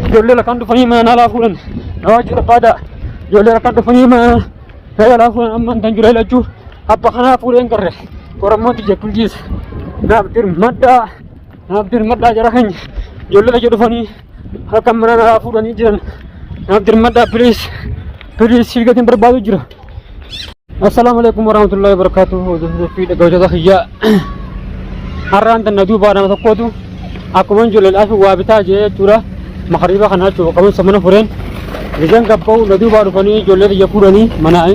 Ijoollee rakkaan dhufanii mana naalaa fuudhan na waajjii barbaadaa. Ijoollee rakkaan dhufanii mana naalaa fuudhan amma hin jiru lachuu abba kanaa fuudheen garre qorammoo tiyya bulchiisa. Naaf dirmadhaa naaf dirmadhaa jara keenya ijoollee lachuu dhufanii harka mana naalaa fuudhanii jiran naaf dirmadhaa piliis piliis sii gatiin barbaadu jira. Assalaamu alaikum warahmatullahi wabarakatuh. Hordoftoota fi dhaggeeffattoota kiyyaa. Har'aan tan na duubaa nama tokkootu akkuma ijoolleedhaaf waa bitaa jee jechuudha. Makariiba kana jechuudha qaban samana fureen. Bishaan gabba'u na duubaa dhufanii ijoollee biyya fuudhanii manaa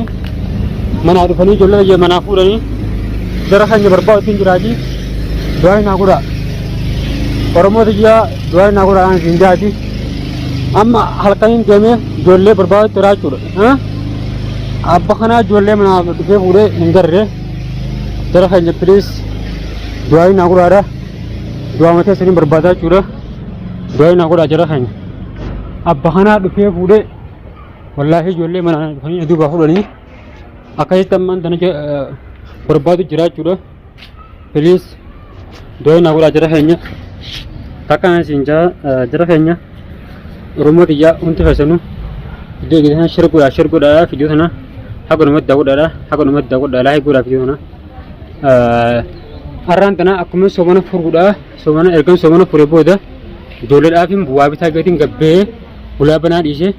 manaa dhufanii ijoollee biyya manaa fuudhanii gara keenya barbaadu ittiin jiraati. Du'aa naa godhaa. Oromoo biyyaa du'aa naa godhaa aan siin jaati. Amma halkaniin deemee ijoollee barbaadu jira jechuudha. Abba kanaa ijoollee manaa dhufee fuudhee hin garre jara keenya piliis du'aa hin haguudhaadha du'aa matee sanii barbaadaa jechuudha du'aa hin haguudhaa jara keenya abba kanaa dhufee fuudhee wallaahi ijoollee manaa dhufanii aduu baafudhanii akkasitti ammaan tana barbaadu jira jechuudha. please doo na godha jira keenya takka na isin jaa jira keenya oromoo tiyyaa hundi keessanu iddoo iddoo sana shira godha shira godha fidiyoo sana haga namatti daawwadhaadha haga namatti daawwadhaa laayik godha fidiyoo sana har'aan tana akkuma soomana furuudha soomana ergan soomana fure booda ijoolleedhaaf bu'aa bitaa gatiin gabbee bulaa banaa dhiisee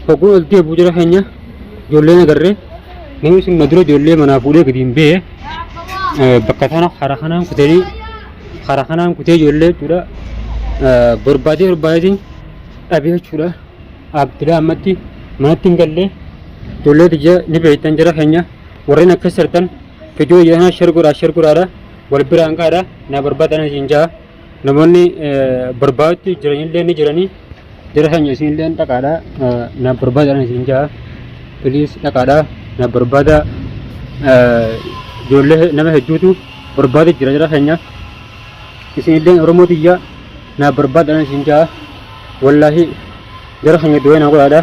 hogguun ol deebi'u jira keenya ijoollee na garree namni sun na dura ijoollee manaa fuudhee gadi hin bee bakka tana karaa kanaan kutanii karaa kanaan kutee ijoollee jechuudha barbaadee barbaadeetiin dhabee jechuudha abdilaa ammatti manatti hin gallee ijoollee tiyya ni beektan jara keenya warreen akkas jirtan fidoo yaanaa sher godhaa sher godhaadha wal biraan qaadha na barbaadan isin jaa Namoonni barbaadutti jiranillee ni jiranii jara sanya isinillee dhaqaadha naaf barbaadaadhaan isin jaha piliis dhaqaadha naaf barbaada ijoollee nama hedduutu barbaada jira jara sanya isinillee oromoo tiyya naaf barbaadaadhaan isin jaha wallaahi jara sanya du'ee naa godhaadha.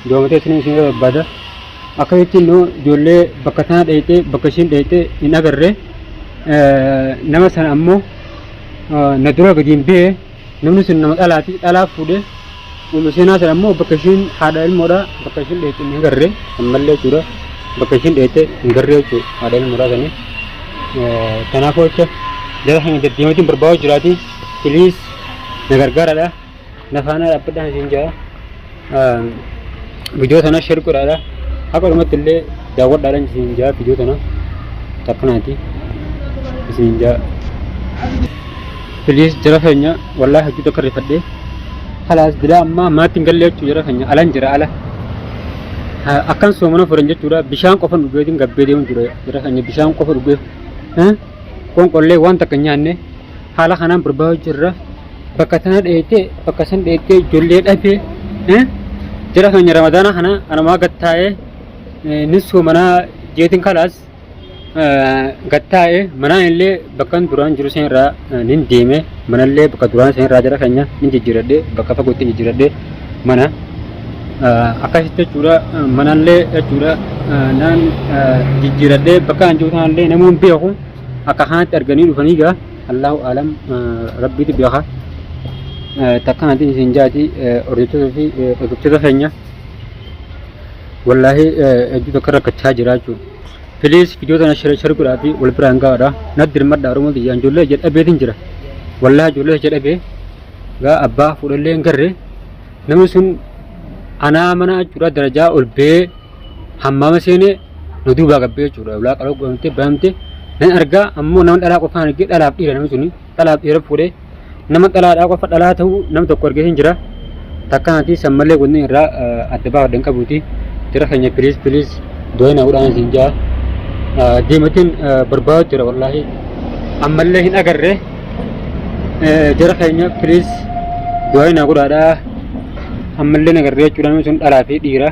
Doomatee isin isin barbaada. Akka jetti immoo ijoollee bakka tana dheeyxee bakka ishiin dheeyxee hin agarre nama sana ammoo na dura gadi hin bee namni sun nama dhalaati dhalaa fuudhee Ummu Seenaa sana ammoo bakka ishiin haadha ilmoodha bakka ishiin dheeyxee hin agarre ammallee jechuudha bakka ishiin dheeyxee hin garre jechuudha haadha ilmoodha sanii. Kanaafuu jecha jara keenya deddeematiin barbaadu jiraati. Piliis na gargaaradha. na faana dhaabbadhaan isin jaa viidiyoo tana sheer godhaadha haqa dhumatti illee daawwadhaadhaan isin jaa viidiyoo tana takkanaati isin jaa piliis jara keenya wallaahi hojii tokko rifadhee halaas dilaa ammaa maatiin gallee jechuu jara keenya alan jira ala akkan soomana furan jechuudha bishaan qofa dhugeetiin gabbee deemuun jira jara keenya bishaan qofa dhugee qoonqollee waan takka nyaanne haala kanaan barbaadu jirra. bakka tana dheeytee bakka san dheeytee ijoollee dhabee eh, jara keenya ramadaana kana anumaa gattaa'ee eh, ni soomanaa jeetiin kalaas eh, gattaa'ee manaan illee bakkan duraan jiru seen irraa eh, nin deeme manallee bakka duraan seen irraa jara keenya nin jijjiiradhe bakka fagootti jijjiiradhe mana eh, akkasitti jechuudha eh, manallee jechuudha eh, naan eh, jijjiiradhe bakka an jiru sanallee namoon beeku akka kanatti arganii dhufanii gaa Allahu aalam rabbiitu beeka. Takka nati isin jaati hordoftoota fi dhaggeeffattoota keenya. Wallaahi hedduu takka rakkachaa jira jechuudha. Please video tana share share godhaa fi wal biraan gahaadha. Natti dirmadha Oromoo tiyya ijoollee ija dhabeetiin jira. Wallaahi ijoollee ija dhabee gaa abbaa fuudhallee hin garre namni sun anaa mana jechuudha darajaa ol ba'ee hammama seenee na duubaa gabbee jechuudha. Ulaa qaloo godhamtee banamtee nan argaa ammoo nama dhalaa qofaan argee dhalaaf dhiira namni suni dhalaaf dhiira fuudhee nama dhalaadhaa qofa dhalaa ta'uu nama tokko argee hin jira. Takka ati san malee wanni irraa eh, adda baafadhan qabuuti. Jira keenya piliis piliis dooyina godhaan isin ja'a. Eh, Deematiin eh, barbaadu jira wallaahi. Ammallee hin agarre. Eh, Jira keenya piliis dooyina godhaadhaa. Ammallee hin agarre jechuudha namni sun dhalaa fi dhiira.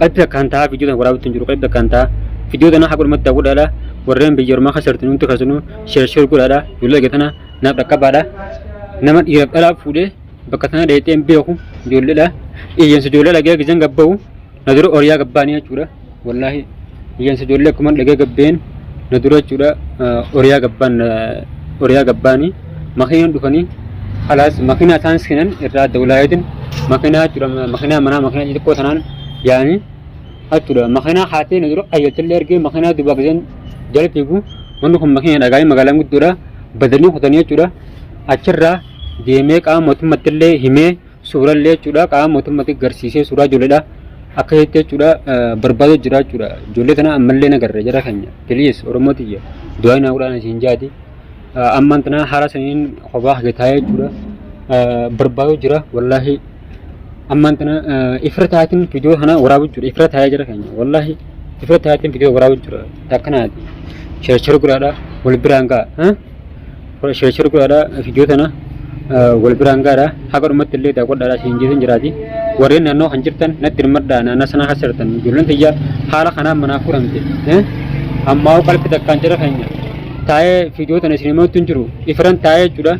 Qalbi akkaan ta'a viidiyoo tana waraabatti hin jiru qalbi akkaan ta'a viidiyoo tana haga dhumatti daawwadhaadha warreen biyya ormaa keessa jirtan hundi keessanuu sheer sheer godhaadha ijoollee egaa tana naaf dhaqqabaadha nama dhiiraaf dhalaa fuudhee bakka tana dheexee hin beeku ijoolleedha iyyansa ijoollee dhagee gizeen gabba'u na dura oriyaa gabbaanii jechuudha wallaahi iyyansa ijoollee akkuma dhagee gabbeen na dura jechuudha oriyaa gabbaan oriyaa gabbaanii makiinaan dhufanii halaas makiinaa isaan seenan irraa adda walaayeetiin makiinaa jechuudha makiinaa manaa makiinaa xixiqqoo sanaan yaa'anii jechuudha makiinaa haatee na dura qayyattillee ergee makiinaa duubaa giseen jala fiigu wanni kun makiinaa dhagaa'ee magaalaan guddoodha badanii kutanii jechuudha achirraa deemee qaama mootummattillee himee suurallee jechuudha qaama mootummaatti garsiisee suuraa ijoolleedha akka jetti jechuudha barbaaduu jira jechuudha ijoollee tana ammallee nagarra jara keenya piliis oromoo tiyya du'aa naa godhaan isiin jaati ammaan tana haala saniin kophaa hagataa jechuudha barbaaduu jira wallaahi ammaan tana ifra taatiin viidiyoo kana waraabuu jira ifra taa'ee jira keenya wallaahi ifra taatiin viidiyoo waraabuu jira akkanaati sheershar gudhaadha wal biraan ga'a. sheer godhaadhaa viidiyoo tana wal biraan gaadha haga dhumatti illee daawwadhaadhaa siin jeetiin jiraati warreen naannoo kan jirtan natti hirmadhaa naannoo sanaa kan sirtan ijoolleen tiyya haala kanaan manaa fuudhamte ammaa qalbi takkaan jira keenya taa'ee viidiyoo tana isin himatu hin jiru ifiran taa'ee jechuudha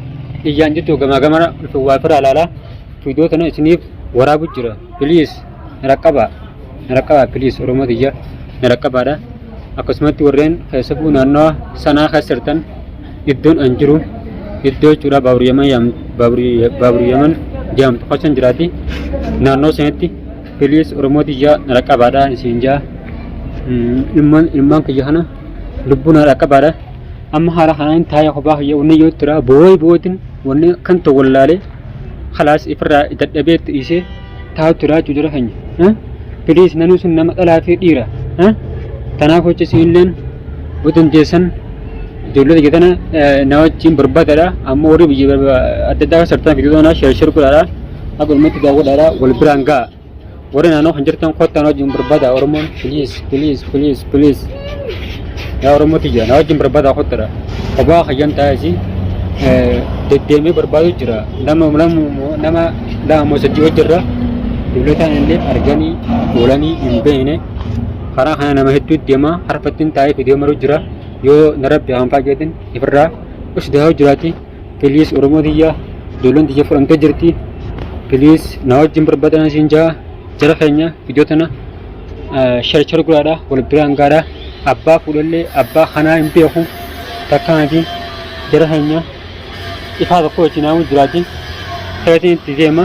iyyaan jirtu gamaa gamana waa firaa ilaalaa viidiyoo tana isiniif waraabu jira biliis raqqabaa Naraqqabaa please Oromoo tiyya naraqqabaadha. Akkasumatti warreen keessafuu naannawa sanaa keessa jirtan iddoon an jiru iddoo jechuudha baaburi yaman yaam- baaburi- baaburi yaman jedhamtu keessa hin jiraati. Naannoo sanatti please Oromoo tiyya naraqqabaadha isin jaa. Mm, Ilmaan ilmaan kiyya kana lubbuu naraqqabaadha. Amma haala kanaan taa'ee kophaa kiyya wanni yoo jira boo'ee boo'eetiin wanni kan ta'u wallaalee kalaas ifirraa dadhabee itti dhiisee taa'u turaa jechuu jara keenya. Eh? Please namni sun nama dhalaa fi dhiira. Eh? Tanaaf hojii siinilleen yoo dandeessan ijoollee biyya tana eh, na wajjin barbaadadha. Amma warri biyya barba- adda addaa sartaan fiduu doonaa sheershir godhaadha. Akka ummatti daawwadhaadha wal biraan ga'a. Warri naannoo kan jirtan kottaan wajjin barbaada Oromoon please please please please. Yaa Oromoo tiyya na wajjin barbaadaa kottadha. Kophaa kayyan taa'isi deddeemee barbaadu jira. Nama nama lama moo sadii wajjirra dublataan illee arganii oolanii hin beekne. Karaa kana nama hedduu deema harfattiin taa'ee fidee maruu jira. Yoo na rabbi haanfaa keetiin ifirraa usdaa jiraati. Please Oromoo tiyya ijoolleen tiyya fudhamtee jirti. Please na wajjin barbaadan isin jaha jara keenya viidiyoo tana sharichar guraadha wal biraan gaadha abbaa fuudhallee abbaa kanaa hin beeku takka miti jara keenya ifaa tokko wajjin naamu jiraati. Keetiin itti deema.